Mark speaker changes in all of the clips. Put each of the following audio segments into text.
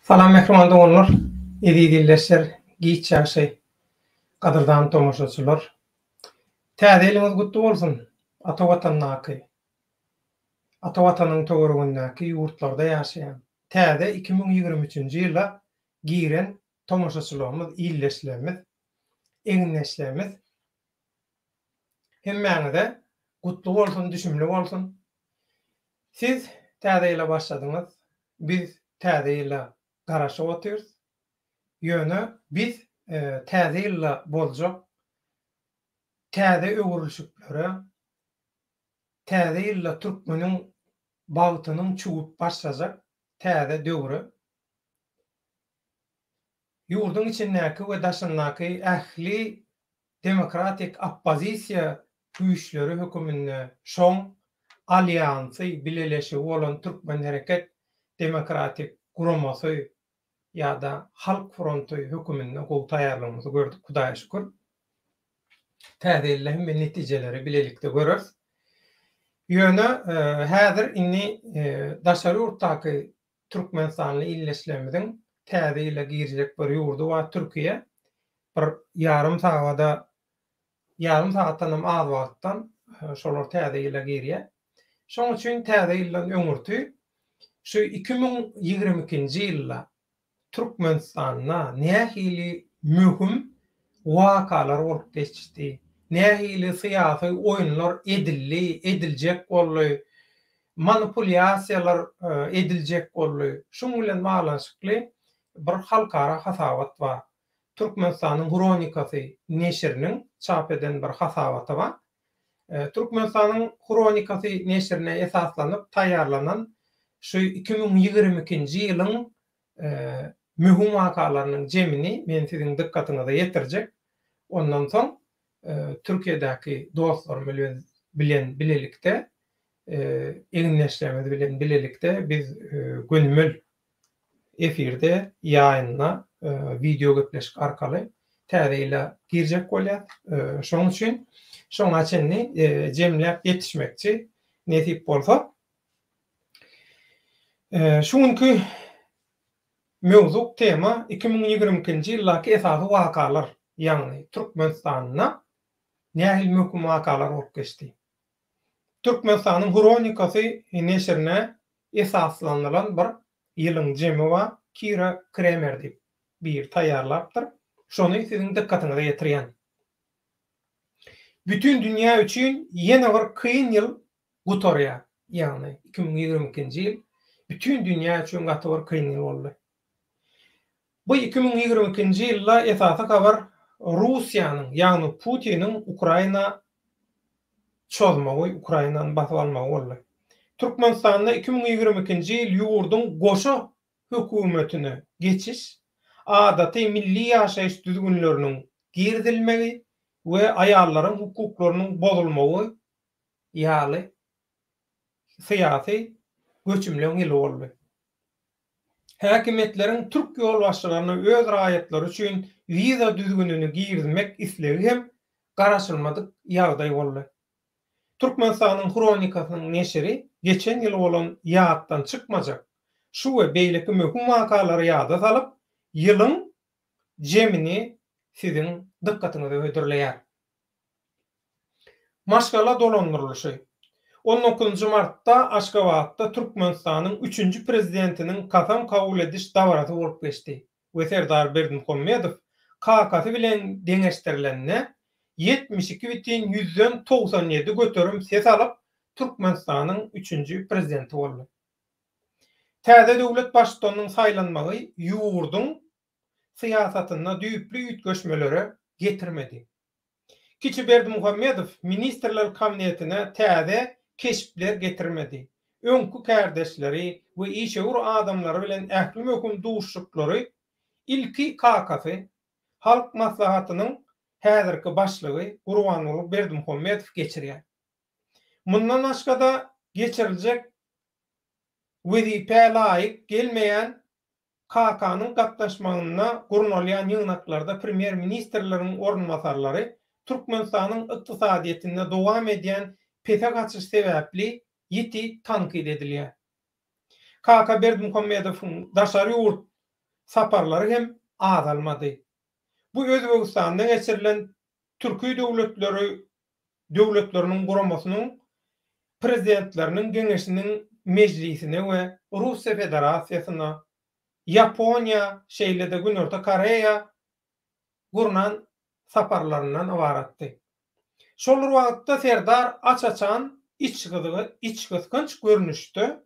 Speaker 1: Salam mähriban doganlar, eziz ildeşler, giç ýagşy, gadyrdan tomaşaçylar. Täze ýylyňyz gutly bolsun, ata Watandaky, ata Watanyň töweregindäki ýurtlarda ýaşaýan, täze iki müň ýigrimi üçünji ýyla giren tomaşaçylygymyz, ildeşlerimiz, egindeşlerimiz hemmäňize gutly bolsun, düşümli bolsun. Siz Täze ýyla başladyňyz, biz Täze ýyla garaşyp otyrys. Ýöne biz Täze ýylda boljak täze öwrülişiklere, Täze ýylda türkmeniň bagtynyň çüwüp başlajak täze döwre ýurduň içindäki we daşyndaky ähli demokratik oppozisiýa güýçleri höküminde şoň alýansy, bileleşigi bolan Türkmen hereket demokratik guramasy ýa-da Halk fronty höküminde gowy taýýarlygymyzy gördük, Hudaýa şükür. Täze ýylda hem men netijeleri bilelikde göreris. Ýöne häzir indi daşary ýurtdaky Türkmenistanly ildeşlerimiziň täze ýyla girjek bir ýurdy bar Türkiýe. Bir ýarym sagada ýarym sagatdanam az wagtdan şolar täze ýyla girýär. Şonuň üçin täze ýyldan öňürti şu iki müň ýigrimi ikinji ýylda Türkmenistanda nähili möhüm wakalar bolup geçdi, nähili syýasy oýunlar edildi, ediljek boldy, manipulýasiýalar ediljek boldy, şuň bilen baglanyşykly bir halkara hasabat bar. Türkmenistanyň hronikasy neşiriniň çap eden bir hasabaty bar. Türkmenistanyň hronikasy neşirine esaslanyp taýýarlanan şu iki müň ýigrimi ikinji ýylyň möhüm wakalarynyň jemini men siziň dykgatyňyza ýetirjek. Ondan soň Türkiýedäki dostlarym bilen bilelikde, egindeşlerimiz bilen bilelikde biz gönümel efirde, ýaýynda, wideo gepleşik arkaly Täze ýyla girjek bolýas. Şonuň üçin şoňa çenli jemläp ýetişmekçi, nesip bolsa. Şu günki mewzuk tema iki müň ýigrimi ikinji ýyldaky esasy wakalar, ýagny Türkmenistanda nähili möhüm wakalar bolup geçdi? Türkmenistanyň hronikasy neşirine esaslanylan bir ýylyň jemi bar, Kira Kremer diýip biri taýýarlapdyr. Şony siziň dykgatyňyza ýetirýän. Bütin dünýä üçin ýene bir kyn ýyl gutarýar. Ýagny iki müň ýigrimi ikinji ýyl bütin dünýä üçin gaty bir kyn ýyl boldy. Bu iki müň ýigrimi ikinji ýylda esasy habar Russiýanyň, ýagny Putiniň Ukraina çozmagy, Ukrainany basyp almagy boldy. Türkmenistanda iki müň ýigrimi ikinji ýyl ýurduň goşa hökümetine geçiş, adaty milli ýaşaýyş düzgünleriniň girizilmegi we aýallaryň hukuklarynyň bozulmagy ýaly syýasy göçümleň ýyly boldy. Häkimiýetleriň türk ýolbaşçylaryna öz raýatlary üçin wiza düzgünini girizmek islegi hem garaşylmadyk ýagdaý boldy. Türkmenistanyň Hronikasynyň neşiri geçen ýyl bolan ýatdan çykmajak şu we beýleki möhüm wakalary ýada salyp, ýylyň jemini siziň dykgatyňyza hödürleýär. Maşgala dolandyrylyşy. On dokuzynjy martda Aşgabatda Türkmenistanyň üçünji Prezidentiniň kasam kabul ediş dabarasy bolup geçdi we Serdar Berdimuhamedow kakasy bilen deňeşdirilende ýetmiş iki bitin ýüzden togsan ýedi göterim ses alyp Türkmenistanyň üçünji Prezidenti boldy. Täze döwlet Baştutanynyň saýlanmagy ýurduň syýasatynda düýpli üýtgeşmelere getirmedi. Kiçi Berdimuhamedow Ministrler Kabinetine täze keşpler getirmedi, öňki kärdeşleri we işewür adamlary bilen ähli möhüm duşuşyklary ilki kakasy, Halk Maslahatynyň häzirki başlygy Gurbanguly Berdimuhamedow geçirýär. Mundan başga-da geçiriljek wezipä laýyk gelmeýän KK-nyň gatnaşmagynda gurnalýan ýygnaklarda premýer-ministrleriň orunbasarlary Türkmenistanyň ykdysadyýetinde dowam edýän pese gaçyş sebäpli ýiti tankyt edilýär. Kaka Berdimuhamedowyň daşary ýurt saparlary hem azalmady. Bu Özbegistanda geçirilen Türki döwletleri Döwletleriniň Guramasynyň Prezidentleriniň Geňeşiniň mejlisine we Russiýa Federasiýasyna, Ýaponiýa, şeýle-de Günorta Koreýa gurnan saparlaryndan ybaratdy. Şol bir wagtda Serdar aç-açan içgysgynç görnüşde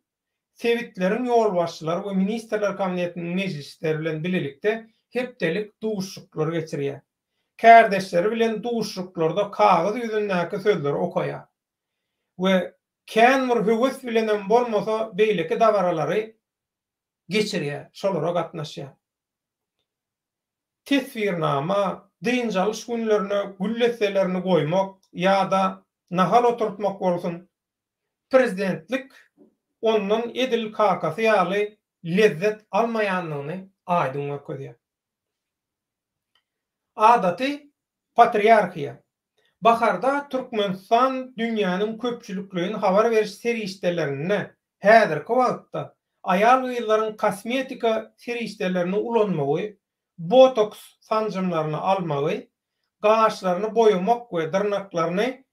Speaker 1: sebitleriň ýolbaşçylary we Ministrler Kabinetiniň mejlisleri bilen bilelikde hepdelik duşuşyklar geçirýär. Kärdeşleri bilen duşuşyklarda kagyz ýüzündäki sözleri okaýar we kän bir höwes bilenem bolmasa beýleki dabaralary geçirýär, şolara gatnaşýar. Teswirnama, dynç alyş günlerine gül desselerini goýmak ýa-da nahal oturtmak bolsun, prezidentlik ondan edil kakasy ýaly lezzet almaýandygyny aýdyň görkezýär. Adaty patriarhiýa. Baharda Türkmenistan dünýäniň köpçülikleýin habar beriş serişdelerinde häzirki wagtda aýal-gyzlaryň kosmetika serişdelerini ulanmagy, botoks sanjymlaryny almagy, gaşlaryny boýamak we dyrnaklaryny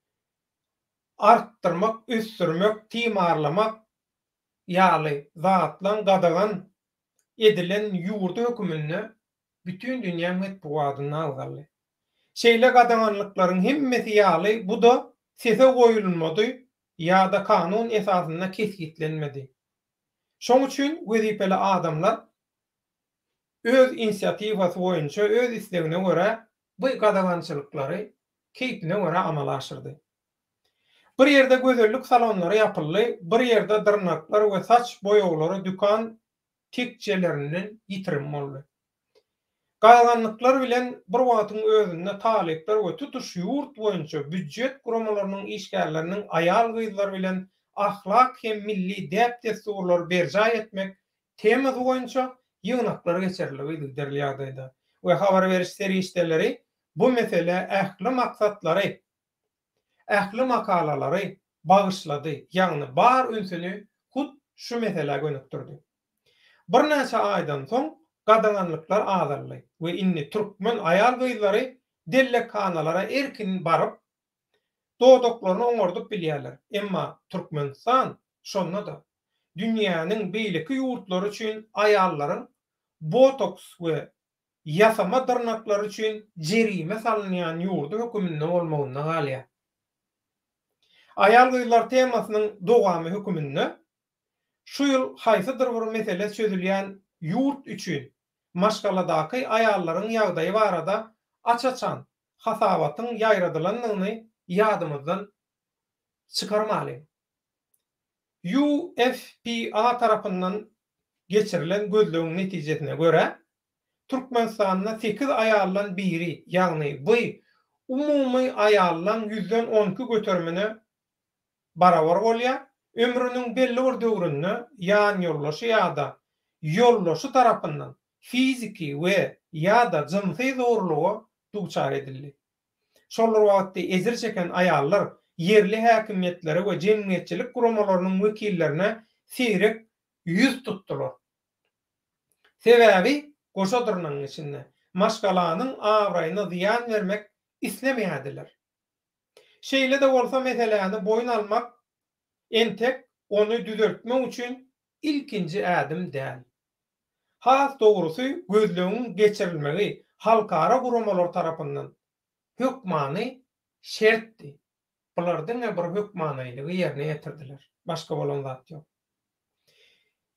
Speaker 1: artdyrmak, ösdürmek, timarlamak ýaly zatlaryň gadagan edilen ýurdy höküminde bütin dünýä metbugatynda agzaldy. Şeýle gadaganlyklaryň hemmesi ýaly bu-da sese goýulmady ýa-da kanun esasynda kesgitlenmedi. Şoň üçin wezipeli adamlar öz inisiatiwasy boýunça, öz islegine görä bu gadagançylyklary keýpine görä amala aşyrdy. Bir ýerde gözellik salonlary ýapyldy, bir ýerde dyrnaklar we saç boýaglary dükan tekjelerinden ýitirim boldy. Gadaganlyklar bilen bir wagtyň özünde talyplar we tutuş ýurt boýunça býujet guramalarynyň işgärleriniň aýal-gyzlar bilen ahlak hem milli däp-dessurlary berjaý etmek temasy boýunça ýygnaklar geçirilip yzygiderli ýagdaýda we habar beriş serişdeleri bu meselä ähli maksatlary, ähli makalalary bagyşlady, ýagny bar ünsüni hut şu meselä gönükdirdi. Birnäçe aýdan soň gadaganlyklar azaldy we indi türkmen aýal-gyzlary dellekhanalara erkin baryp, dodaklaryny oňardyp bilýärler, emma Türkmenistan şonda-da dünýäniň beýleki ýurtlary üçin aýallaryň botoks we ýasama dyrnaklary üçin jerime salynýan ýurdy höküminde bolmagynda galýar. Aýal-gyzlar temasynyň dowamy höküminde şu ýyl haýsydyr bir mesele çözülýän ýurt üçin maşgaladaky aýallaryň ýagdaýy barada aç-açan hasabatyň ýaýradylandygyny ýadymyzdan çykarmalyň. UFPA tarapyndan geçirilen gözlegiň netijesine görä, Türkmenistanda sekiz aýaldan biri, ýagny bu umumy aýallaň ýüzden on iki göterimine barabar bolýar, ömrüniň belli bir döwründe ýanýoldaşy ýa-da ýoldaşy tarapyndan fiziki we, ýa-da, jynsy zorluga duçar edildi. Şol bir wagtda ejir çeken aýallar ýerli häkimiýetlere we jemgyýetçilik guramalarynyň wekillerine seýrek ýüz tutdular. Sebäbi goşa dyrnagyň içinde, maşgalanyň abraýyna zyýan bermek islemeýärdiler. Şeýle-de bolsa meseläni boýun almak entek ony düzeltmek üçin ilkinji ädim däl. Has dogrusy, gözlegiň geçirilmegi halkara guramalar tarapyndan hökmany şertdi. Bular diňe bir hökmanylygy ýerine ýetirdiler. Başga bolan zat ýok.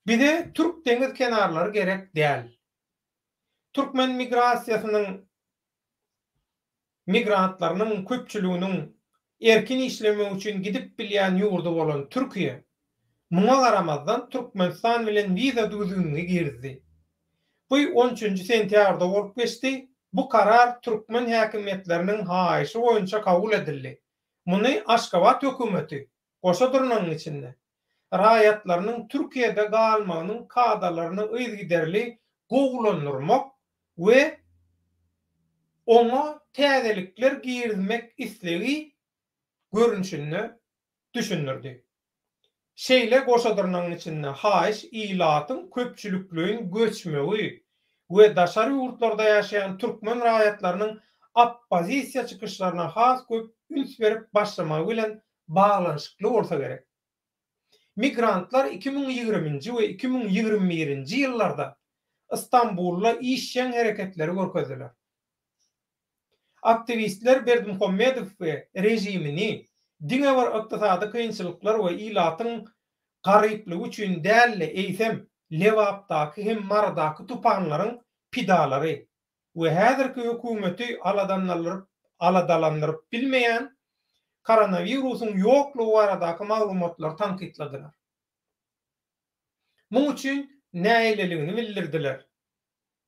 Speaker 1: Bize türk deňiz kenarlary gerek däl. Türkmen migrasiýasynyň migrantlarynyň köpçüliginiň erkin işlemek üçin gidip bilýän ýurdy bolan Türkiýe, muňa garamazdan Türkmenistan bilen wiza düzgünini girizdi. Bu on üçünji sentýabrda bolup geçdi, bu karar türkmen häkimiýetleriniň haýyşy boýunça kabul edildi, muny Aşgabat hökümeti, goşa durnagyň içinde, raýatlarynyň Türkiýede galmagynyň kadalaryny yzygiderli gowulandyrmak we oňa täzelikler girizmek islegi görnüşinde düşündirdi. Şeýle goşadyrnagyň içinde haýyş ilatyň köpçülikleýin göçmegi we daşary ýurtlarda ýaşaýan türkmen raýatlarynyň oppozisiýa çykyşlaryna has köp üns berip başlamagy bilen baglanyşykly bolsa gerek. Migrantlar iki müň ýigriminji we iki müň ýigrimi birinji ýyllarda Stambulda işjeň hereketleri görkezdiler. Aktiwistler Berdimuhamedowy režimini diňe bir ykdysady kynçylyklar we ilatyň garyplygy üçin däl-de, eýsem, Lebapdaky hem Marydaky tupanlaryň pidalary, we häzirki hökümeti aladanalryp aladalandyryp bilmeýän koronawirusyň ýoklugy baradaky maglumatlary tankytladylar. Muň üçin nägileligini bildirdiler,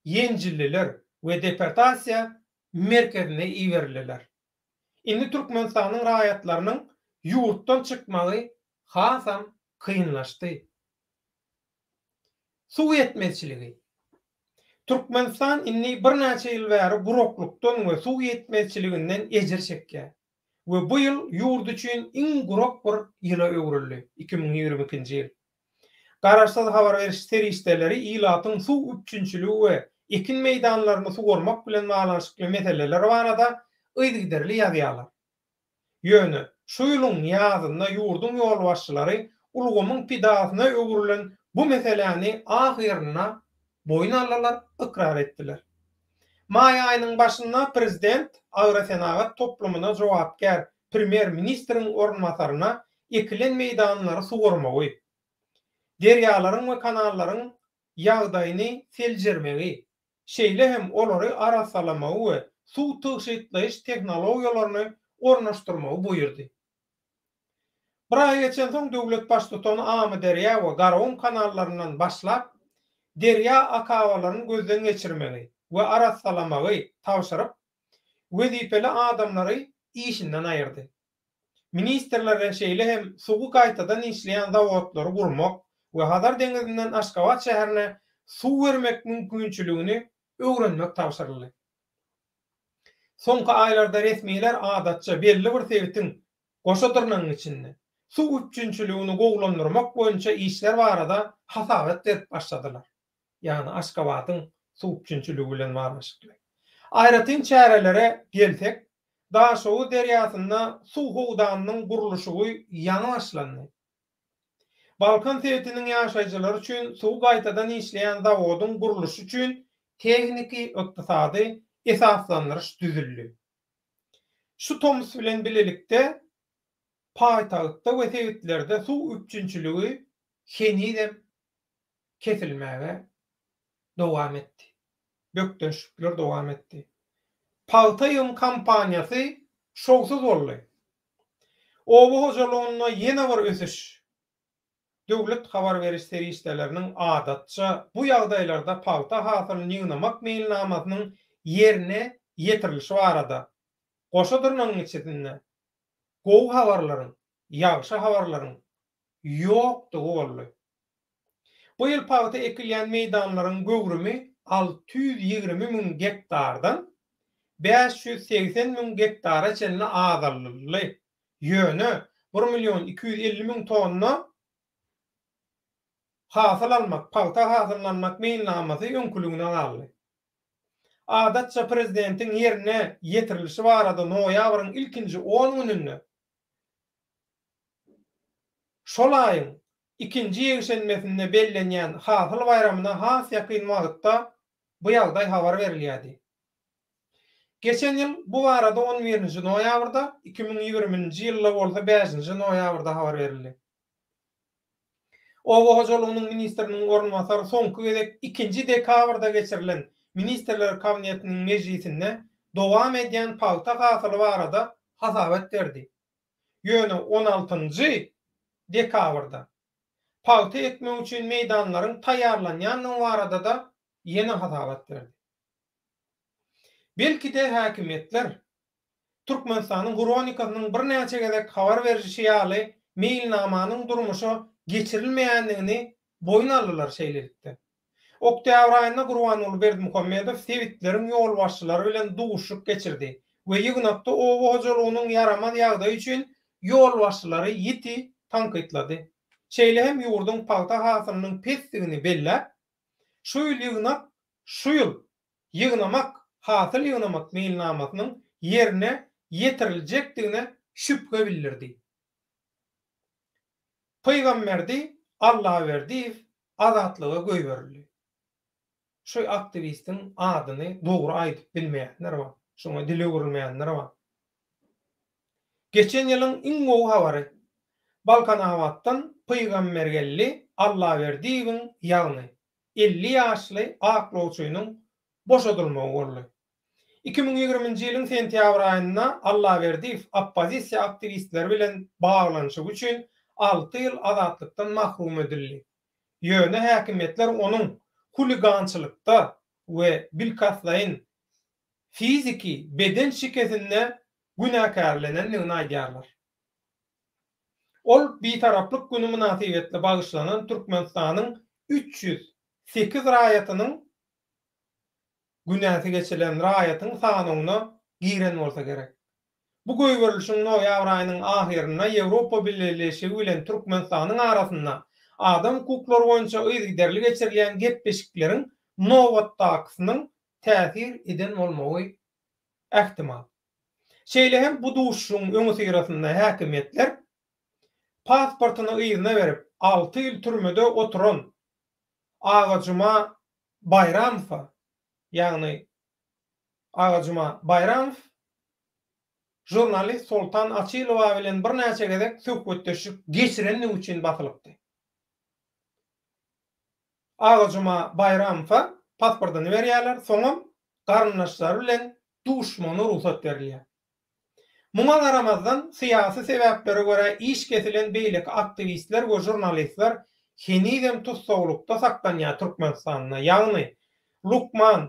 Speaker 1: ýenjildiler we deportasiýa merkezine iberildiler. Indi Türkmenistanyň raýatlarynyň ýurtdan çykmagy hasam kynlaşdy. Suw ýetmezçiligi. Türkmenistan indi birnäçe ýyl bäri guraklykdan we suw ýetmezçiliginden ejir çekýär we bu ýyl ýurt üçin iň gurak bir ýyla öwrüldi, iki müň ýigrimi ikinji ýyl. Garaşsyz habar beriş serişdeleri ilatyň suw üpjünçiligi we ekin meýdanlaryny suwarmak bilen baglanyşykly meseleler barada yzygiderli ýazýarlar. Ýöne, şu ýylyň ýazynda ýurduň ýolbaşçylary ulgamyň pidasyna öwrülen bu meseläni ahyrynda boýun aldylar, ykrar etdiler. Maý aýynyň başynda prezident agrosenagat toplumyna jogapkär premýer-ministriň orunbasaryna ekilen meýdanlary suwarmagy, derýalaryň we kanallaryň ýagdaýyny seljermegi, şeýle hem olary arassalamagy we suw tygşytlaýyş tehnologiýalaryny ornaşdyrmagy buýurdy. Bir aý geçensoň, döwlet Baştutany Amyderýa we Garawun kanallaryndan başlap, derýa akabalaryny gözden geçirmegi we arassalamagy tabşyryp, wezipeli adamlary işinden aýyrdy. ministrlerden şeýle hem suwy gaýtadan işleýän zawodlary gurmak we Hazar deňizinden Aşgabat şäherine suw bermek mümkinçiligini öwrenmek tabşyryldy. Soňky aýlarda resmiler adatça belli bir sebitiň goşa dyrnagyň içinde suw üpjünçiligini gowulandyrmak boýunça işler barada hasabat berip başladylar. ýagny Aşgabadyň suw üpjünçiligi bilen baglanyşykly. Aýratyn çärelere gelsek, Daşoguz derýasynda suw howdanynyň gurluşygy ýaňy başlandy. Balkan sebitiniň ýaşaýjylary üçin suwy gaýtadan işleýän zawodyň gurluşy üçin tehniki, ykdysady esaslandyryş düzüldi. Şu tomus bilen bilelikde paýtagtda we sebitlerde suw üpjünçiligi henizem kesilmäge dowam etdi. Bökdençlikler dowam etdi. Pagta ýygym kampaniýasy şowsuz boldy. Oba hojalygynda ýene bir ösüş. Döwlet habar beriş serişdeleriniň adatça bu ýagdaýlarda pagta hasylyny ýygnamak meýilnamasynyň ýerine ýetirilişi barada goşa dyrnagyň içisinde gowy habarlaryň, ýagşy habarlaryň ýokdugy boldy. Bu ýyl pagta ekilýän meýdanlaryň göwrümi alty ýüz ýigrimi müň gektardan bäş ýüz segsen müň gektara çenli azaldyldy, ýöne bir million iki ýüz elli müň tonna hasyl almak, pagta hasylyny almak meýilnamasy öňküligine galdy. Adatça prezidentiň ýerine ýetirilişi barada noýabryň ilkinji on gününde Şol aýyň ikinji ýekşenbesinde bellenýän Hasyl baýramyna has ýakyn wagtda bu ýagdaý habar berilýärdi. Geçen ýyl bu barada on birinji noýabrda, iki müň ýigrimi nji ýylda bolsa bäşinji noýabrda habar berildi. Oba hojalygynyň ministriniň orunbasary soňky gezek ikinji dekabrda geçirilen Ministrler Kabinetiniň mejlisinde dowam edýän pagta hasyly barada hasabat berdi. Ýöne on altynjy dekabrda pagta ekmek üçin meýdanlaryň taýýarlanýandygy barada-da ýene hasabat berdi. Belki-de häkimiýetler, Türkmenistanyň hronikasynyň birnäçe gezek habar berişi ýaly, meýilnamanyň durmuşa geçirilmeýändigini boýun aldylar, şeýlelikde, oktýabr aýynda Gurbanguly Berdimuhamedow sebitleriň ýolbaşçylary bilen duşuşyk geçirdi we ýygnakda oba hojalygynyň ýaramaz ýagdaýy üçin ýolbaşçylary ýiti tankytlady. Şeýle hem ýurduň pagta hasylynyň pesdigini belläp, şu ýyl ýygnak şu ýyl ýygnamak hasyl ýygnamak meýilnamasynyň ýerine ýetiriljekdigine şübhe bildirdi. Pygamberdi Allaberdiýew azatlyga göýberildi. Şu aktiwistiň adyny dogry aýdyp bilmeýänler bar. Şoňa dil öwrülmeýänler bar. Geçen ýylyň iň gowy habary. Balkanabatdan Pygambergeldi Allaberdiýewiň ýagny elli ýaşly aklawçynyň boşadylmagy boldy. Iki müň ýigriminji ýylyň sentýabr aýynda Allaberdiýew oppozisiýa aktiwistleri bilen baglanyşygy üçin alty ýyl azatlykdan mahrum edildi. Ýöne häkimiýetler onuň huligançylykda we bilkastlaýyn fiziki, beden şikesinde günäkärlenendigini aýdýarlar. Ol Bitaraplyk güni mynasybetli bagyşlanan Türkmenistanyň üç ýüz sekiz raýatynyň günäsi geçirilen raýatyň sanawyna giren bolsa gerek. Bu goýberilişiň noýabr aýynyň ahyrynda Ýewropa Bileleşigi bilen Türkmenistanyň arasynda adam hukuklary boýunça yzygiderli geçirilýän gepleşikleriň nobatdakysynyň täsir eden bolmagy ähtimal. Şeýle hem bu duşuşygyň öňüsyrasynda häkimiýetler pasportyny yzyna berip, alty ýyl türmede oturan Agajuma Baýramowa, ýagny Agajuma Baýramow žurnalist Soltan Açylowa bilen birnäçe gezek söhbetdeşlik geçirendigi üçin basylypdy. Agajuma Baýramowa pasportyny berýärler, soňam garyndaşlary bilen duşmana rugsat berilýär. Muňa garamazdan, syýasy sebäplere görä iş kesilen beýleki aktiwistler we žurnalistler henizem tussaglykda saklanýar Türkmenistanda, ýagny, lukman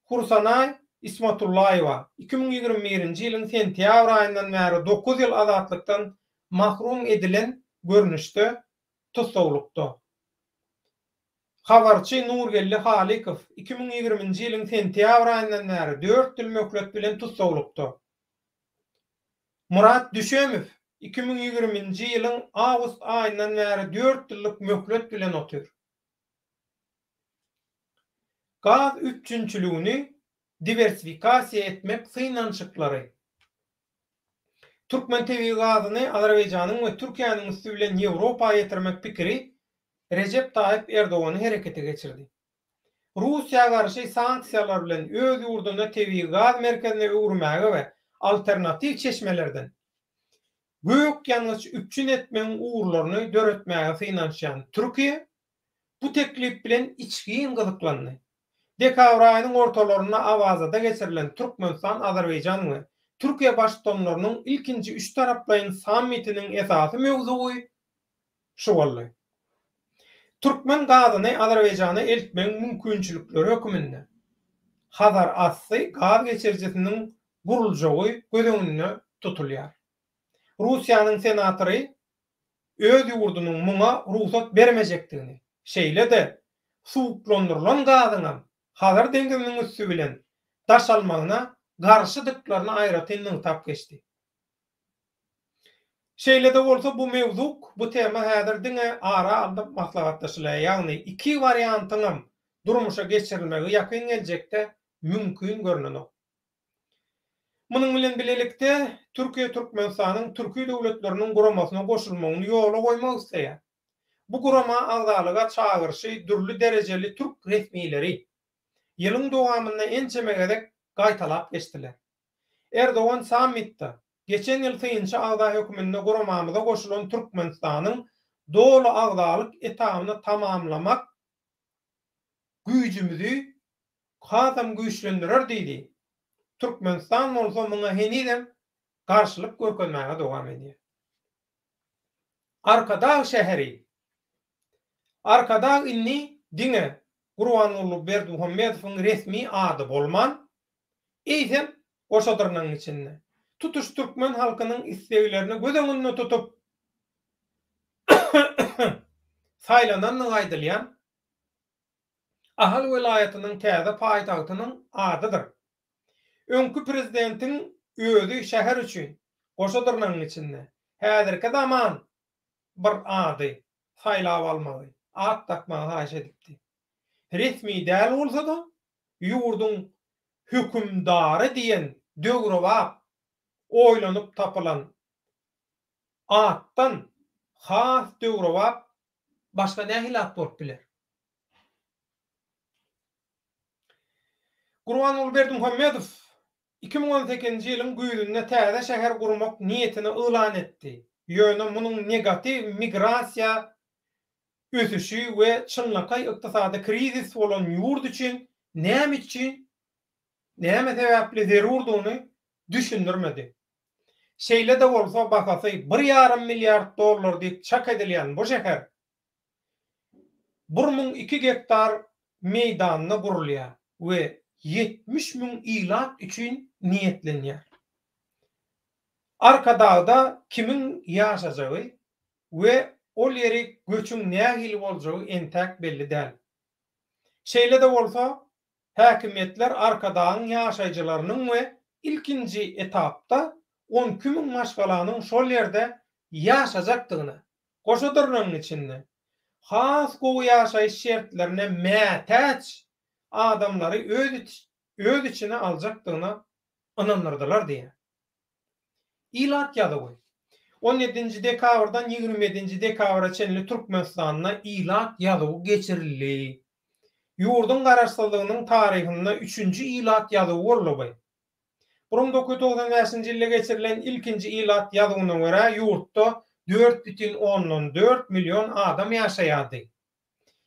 Speaker 1: Hursanaý Ismatullaýewa iki müň ýigrimi birinji ýylyň sentýabr aýyndan bäri dokuz ýyl azatlykdan mahrum edilen görnüşde tussaglykda. Habarçy Nurgeldi Halykow iki müň ýigriminji ýylyň sentýabr aýyndan bäri dört ýyl möhlet bilen tussaglykda. Murat Düşemow iki müň ýigriminji ýylyň awgust aýyndan bäri dört ýyllyk möhlet bilen otyr. Gaz üpjünçiligini diwersifikasiýa etmek synanyşyklary. Türkmen tebigy gazyny Azerbaýjanyň we Türkiýäniň üsti bilen Ýewropa ýetirmek pikiri Rejep Taýyp Erdogany herekete geçirdi. Russiýa garşy sanksiýalar bilen öz ýurduny tebigy gaz merkezine öwürmäge we alternatiw çeşmelerden gök ýangyç üpjün etmegiň ugurlaryny döretmäge synanyşýan Türkiýe, bu teklip bilen içgin gyzyklandy. Dekabr aýynyň ortalarynda Awazada geçirilen Türkmenistan, Azerbaýjan we Türkiýe Baştutanlarynyň ilkinji üçtaraplaýyn sammitiniň esasy möwzugy şu boldy. Türkmen gazyny Azerbaýjana eltmegiň mümkinçilikleri höküminde Hazarasty gaz geçirijisiniň guruljagy göz öňünde tutulýar. Russiýanyň senatory öz ýurdunyň muňa rugsat bermejekdigini, şeýle-de suwuklandyrylan gazyňam Hazar deňziniň üsti bilen daşalmagyna garşydyklaryny aýratyn nygtap geçdi. Şeýle-de bolsa bu mewzuk, bu tema häzir diňe ara alnyp maslahatlaşylýar, ýagny iki wariantyňam durmuşa geçirilmegi ýakyn geljekde mümkin görnenok. Munuň bilen bilelikde, Türkiýe Türkmenistanyň Türki Döwletleriniň Guramasyna goşulmagyny ýola goýmak isleýär. Bu gurama agzalyga çagyryşy dürli derejeli türk resmileri ýylyň dowamynda ençeme gezek gaýtalap geçdiler. Erdogan sammitde, Geçen ýyl synçy agza hökmünde guramamyza goşulan Türkmenistanyň doly agzalyk etabyny tamamlamak güýjümizi hasam güýçlendirer diýdi. Türkmenistan bolsa muňa henizem garşylyk görkezmäge dowam edýär. Arkadag şäheri. Arkadag indi diňe Gurbanguly Berdimuhamedowyň resmi ady bolman, eýsem, goşadyrnagyň içinde, tutuş türkmen halkynyň isleglerini göz öňünde tutup saýlanandygy aýdylýan Ahal welaýatynyň täze paýtagtynyň adydyr. Öňki prezidentiň özi şäher üçin, goşa dyrnagyň içinde, häzirki zaman bir ady saýlap almagy, at dakmagy haýyş edipdi. Resmi däl bolsa-da, ýurduň hökümdary diýen döwrebap oýlanyp tapylan atdan has döwrebap Başga nähili at bolup biler? Gurbanguly Berdimuhamedow iki müň on sekizinji ýylyň güýzünde täze şäher gurmak niýetini yglan etdi, ýöne munuň negatiw migrasiýa ösüşi we çynlakaý ykdysady krizis bolan ýurt üçin näme üçin, näme sebäpli zerurdygyny düşündirmedi. Şeýle-de bolsa, bahasy bir ýarym milliard dollar diýip çak edilýän bu şäher bir müň iki gektar meýdanda gurulýar we ýetmiş müň ilat üçin niýetlenýär. Arkadagda kimiň ýaşajagy we ol ýeri göçüň nähili boljagy entäk belli däl. Şeýle-de bolsa, Häkimiýetler Arkadagyň ýaşaýjylarynyň we ilkinji etapda on iki müň maşgalanyň şol ýerde ýaşajakdygyna, goşa dyrnagyň içinde, has gowy ýaşaýyş şertlerine mätäç adamlary öz içine aljakdygyna ynandyrdylar diýýär. Ilat ýazuwy. On ýedinji dekabrdan ýigrimi ýedinji dekabra çenli Türkmenistanda ilat ýazuwy geçirildi. Ýurduň Garaşsyzlygynyň taryhynda üçünji ilat ýazuwy gurluby. Bir müň dokuz ýüz togsan bäşinji ýylda geçirilen ilkinji ilat ýazuwyna görä ýurtda dört bütin ondan dört million adam ýaşaýardy.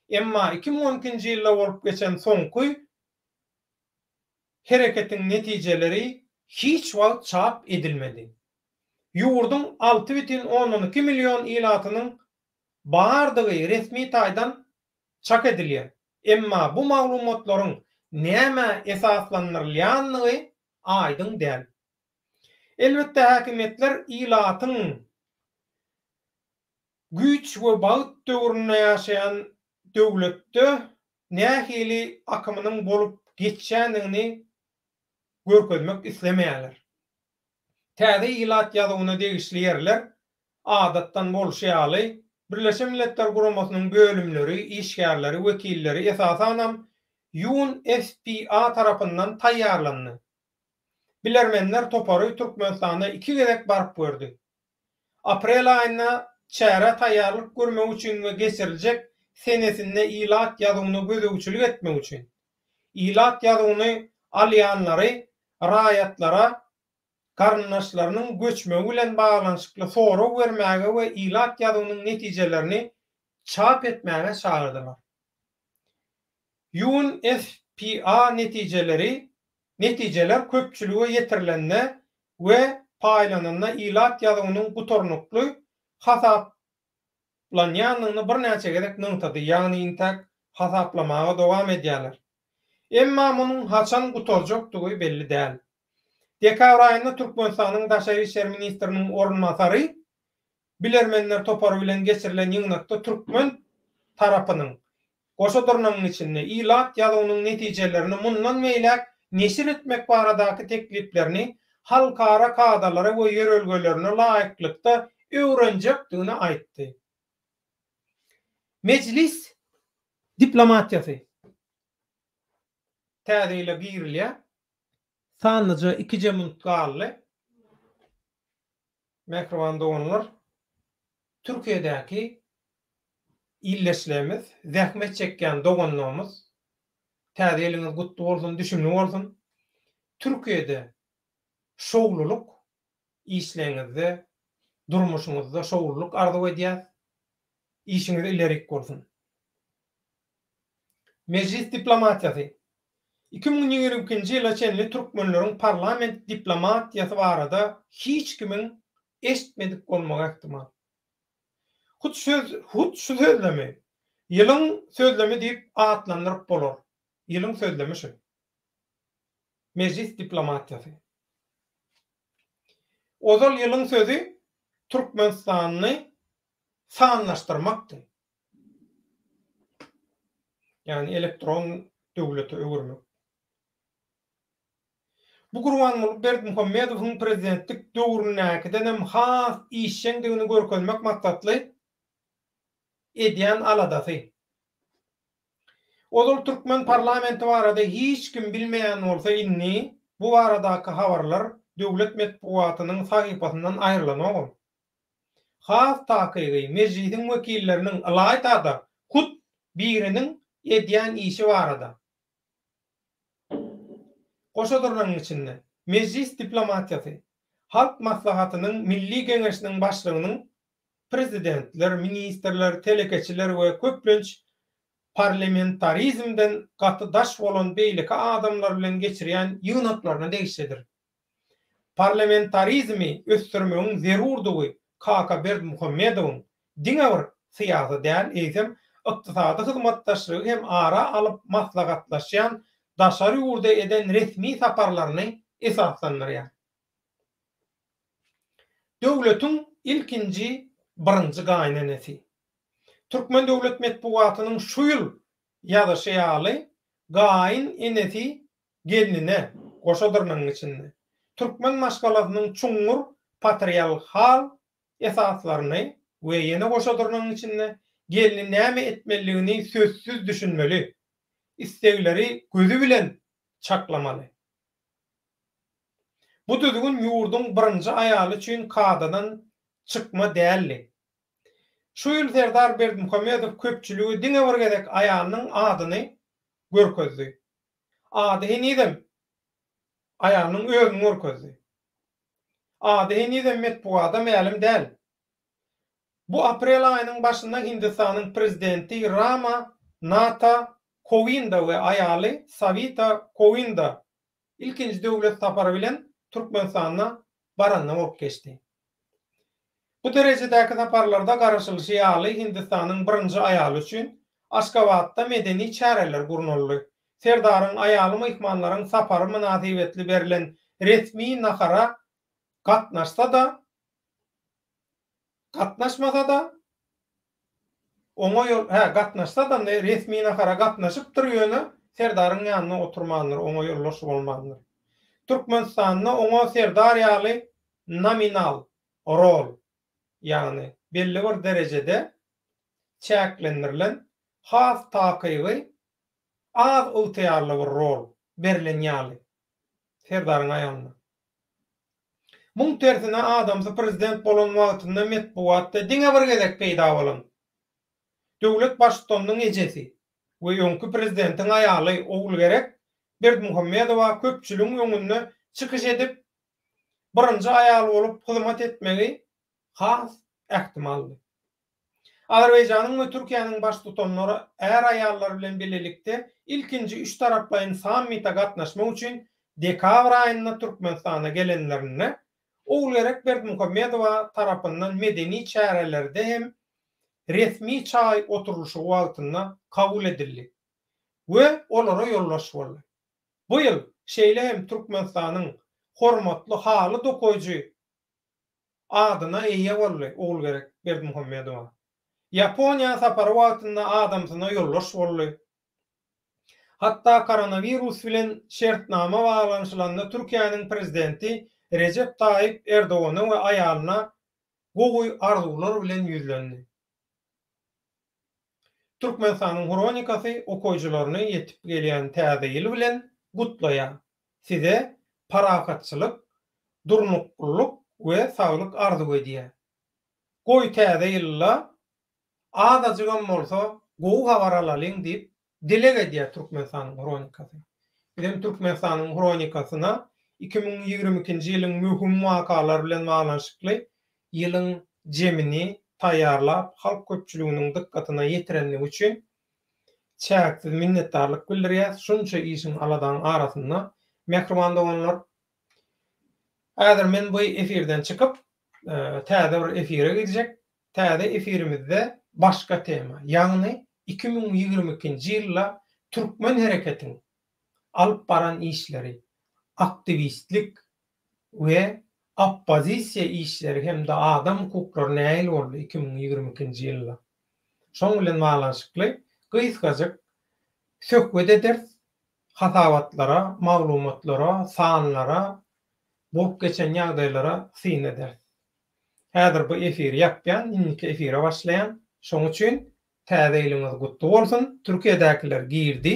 Speaker 1: Emma iki müň on ikinji ýylda bolup geçen soňky hereketiň netijeleri hiç wagt çap edilmedi. Ýurduň alty bütin ondan iki million ilatynyň bardygy resmi taýdan çak edilýär, emma bu maglumatlaryň nämä esaslandyrylýandygy aýdyň däl. Elbetde, häkimiýetler ilatyň güýç we bagt döwründe ýaşaýan döwletde nähili akymynyň bolup geçýändigini görkezmek islemeýärler. Täze ilat ýazuwyna degişli ýerler, adatdan bolşy ýaly, Birleşen Milletler Guramasynyň bölümleri, işgärleri, wekilleri, esasanam, UNFPA tarapyndan taýýarlandy. Bilermenler topary Türkmenistana iki gezek baryp gördi. Aprel aýynda çärä taýýarlyk görmek üçin we geçiriljek senesinde ilat ýazuwyna gözegçilik etmek üçin, ilat ýazuwyny alýanlary raýatlara garyndaşlarynyň göçmegi bilen baglanyşykly sorag bermäge we ilat ýazuwynyň netijelerini çap etmäge çagyrdylar. UNFPA netijeleri Netijeler köpçülige ýetirilende we paýlananda ilat ýazuwynyň gutarnykly hasaplanýandygyny birnäçe gezek nygtady, ýagny intäk hasaplamaga dowam edýärler. Emma munuň haçan gutarjakdygy belli däl. Dekabr aýynda Türkmenistanyň daşary işler ministriniň orunbasary Bilermenler topary bilen geçirilen ýygnakda türkmen tarapynyň goşa dyrnagyň içinde ilat ýazuwynyň netijelerini mundan beýläk neşir etmek baradaky tekliplerini halkara kadalara we ýörelgelerine laýyklykda öwrenjekdigini aýtdy. Mejlis diplomatiýasy täze ýyla girilýär. Sanlyja ikije minut galdy. Mähriban doganlar, Türkiýedäki ildeşlerimiz, zähmet çekýän doganlarymyz, Täze ýylyňyz gutly bolsun, düşümli bolsun! Türkiýede şowlulyk işleňizde, durmuşyňyzda şowlulyk arzuw edýäs. Işiňiz ilerik bolsun! Mejlis diplomatiýasy. Iki müň ýigrimi ikinji ýyla çenli türkmenleriň parlament diplomatiýasy barada hiç kimiň eşitmedik bolmagy ähtimal. Hut söz, hut şu sözlemi Ýylyň sözlemi diýip atlandyryp bolar. Ýylyň sözlemi şu. Mejlis diplomatiýasy. Ozal ýylyň sözi türkmenistanly sanlaşdyrmakdy. ýagny elektron döwlete öwürmek. Bu Gurbanguly Berdimuhamedowyň prezidentlik döwründäkiden hem has işjeňdigini görkezmek maksatly edýän aladasy. Ozal türkmen parlamenti barada hiç kim bilmeýän bolsa indi bu baradaky habarlar döwlet metbugatynyň sahypasyndan aýrylanogam. Has takygy, Mejlisiň wekilleriniň ylaýta-da hut biriniň edýän işi barada. Goşa durnagyň içinde, Mejlis diplomatiýasy, Halk Maslahatynyň Milli Geňeşiniň Başlygynyň prezidentler, ministrler, telekeçiler we köplenç parlamentarizmden gaty daş bolan beýleki adamlar bilen geçirýän ýygnaklaryna degişlidir. Parlamentarizmi ösdürmegiň zerurdygy Kaka Berdimuhamedowyň diňe bir syýasy däl, eýsem, ykdysady hyzmatdaşlygy hem ara alyp maslahatlaşýan daşary ýurda eden resmi saparlaryny esaslandyrýar. Döwletiň ilkinji birinji gaýynenesi. Türkmen döwlet metbugatynyň şu ýyl ýazyşy ýaly, gaýyn enesi Gelnine, goşa dyrnagyň içinde, türkmen maşgalasynyň çuňňur patrialhal esaslaryny we ýene goşa dyrnagyň içinde, gelni näme etmelidigini sözsüz düşünmeli, islegleri gözi bilen çaklamaly. Bu düzgün ýurduň birinji aýaly üçin kadadan çykma däldi. Şu ýyl Serdar Berdimuhamedow köpçülige diňe bir gezek aýalynyň adyny görkezdi. Ady henizem aýalynyň özüni görkezdi. Ady henizem metbugada mälim däl. Bu aprel aýynyň başynda Hindistanyň prezidenti Rama Nata Kowinda we aýaly Sawita Kowinda ilkinji döwlet sapary bilen Türkmenistana baranda bolup geçdi. Bu derejedäki saparlarda garaşylyşy ýaly Hindistanyň birinji aýaly üçin Aşgabatda medeni çäreler gurnaldy. Serdaryň aýaly myhmanlaryň sapary mynasybetli berlen resmi nahara gatnaşsa-da, gatnaşmasa-da, Oňa ýol, hä, gatnaşsa-da, ne resmi nahara gatnaşypdyr, ýöne serdaryň ýanynda oturmandyr, oňa ýoldaş bolmandyr. Türkmenistanda oňa serdar ýaly nominal rol, ýagny belli bir derejede çäklendirilen has takygy az ygtyýarly bir rol berlen ýaly serdaryň aýalyna. Muň tersine adamsy prezident bolan wagtynda metbugatda diňe bir gezek peýda bolan döwlet baştutanynyň ejesi we öňki prezidentiň aýaly Ogulgerek Berdimuhamedowa köpçüligiň öňünde çykyş edip birinji aýal bolup hyzmat etmegi has ähtimaldy. Azerbaýjanyň we Türkiýäniň Baştutanlary är-aýallar bilen bilelikde ilkinji üçtaraplaýyn sammite gatnaşmak üçin dekabr aýynda Türkmenistana gelenlerinde, Ogulgerek Berdimuhamedowa tarapyndan medeni çärelerde hem resmi çaý oturylyşygy wagtynda kabul edildi we olara ýoldaş boldy. Bu ýyl şeýle hem Türkmenistanyň hormatly haly dokaýjy adyna eýe boldy, Ogulgerek Berdimuhamedowa. Ýaponiýa sapary wagtynda adamsyna ýoldaş boldy. Hatda koronawirus bilen şertnama baglanyşylanda Türkiýäniň prezidenti Rejep Taýyp Erdogana we aýalyna gowy arzuwlar bilen ýüzlendi. Türkmenistanyň hronikasy okyjylaryny ýetip gelýän Täze ýyl bilen gutlaýar. Size parahatçylyk, durnuklylyk we saglyk arzuw edýär. Goý täze ýylda azajygam bolsa gowy habar alalyň diýip dileg edýär Türkmenistanyň Hronikasy. Biz hem Türkmenistanyň Hronikasyna iki müň ýigrimi ikinji ýylyň möhüm wakalar bilen baglanyşykly ýylyň jemini taýýarlap halk köpçüliginiň dykgatyna ýetirenligi üçin Çäksiz minnetdarlyk bildirýäs şunça işiň aladaň arasynda mähriban doganlar. Häzir men bu efirden çykyp täze bir efire gidjek. Täze efirimizde başga tema, ýagny iki müň ýigrimi ikinji ýylda türkmen hereketiň alyp baran işleri, aktiwistlik we oppozisiýa işleri hem-de adam hukuklary nähili boldy iki müň ýigrimi ikinji ýylda? Şoň bilen baglanyşykly gysgajyk söhbet ederis, hasabatlara, maglumatlara, sanlara, bolup geçen ýagdaýlara syn ederis. Häzir bu efiri ýapýan, indiki efire başlaýan. Şoň üçin Täze ýylyňyz gutly bolsun! Türkiýedäkiler girdi.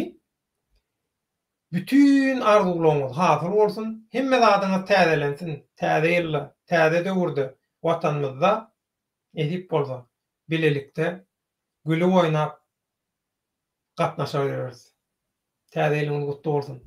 Speaker 1: Bütin arzuwlaryňyz hasyl bolsun, hemme zadyňyz täzelensin, täze ýylda, täze döwürde Watanymyzda nesip bolsa, bilelikde gülüp oýnap gatnaşar ýöreris. Täze ýylyňyz gutly bolsun!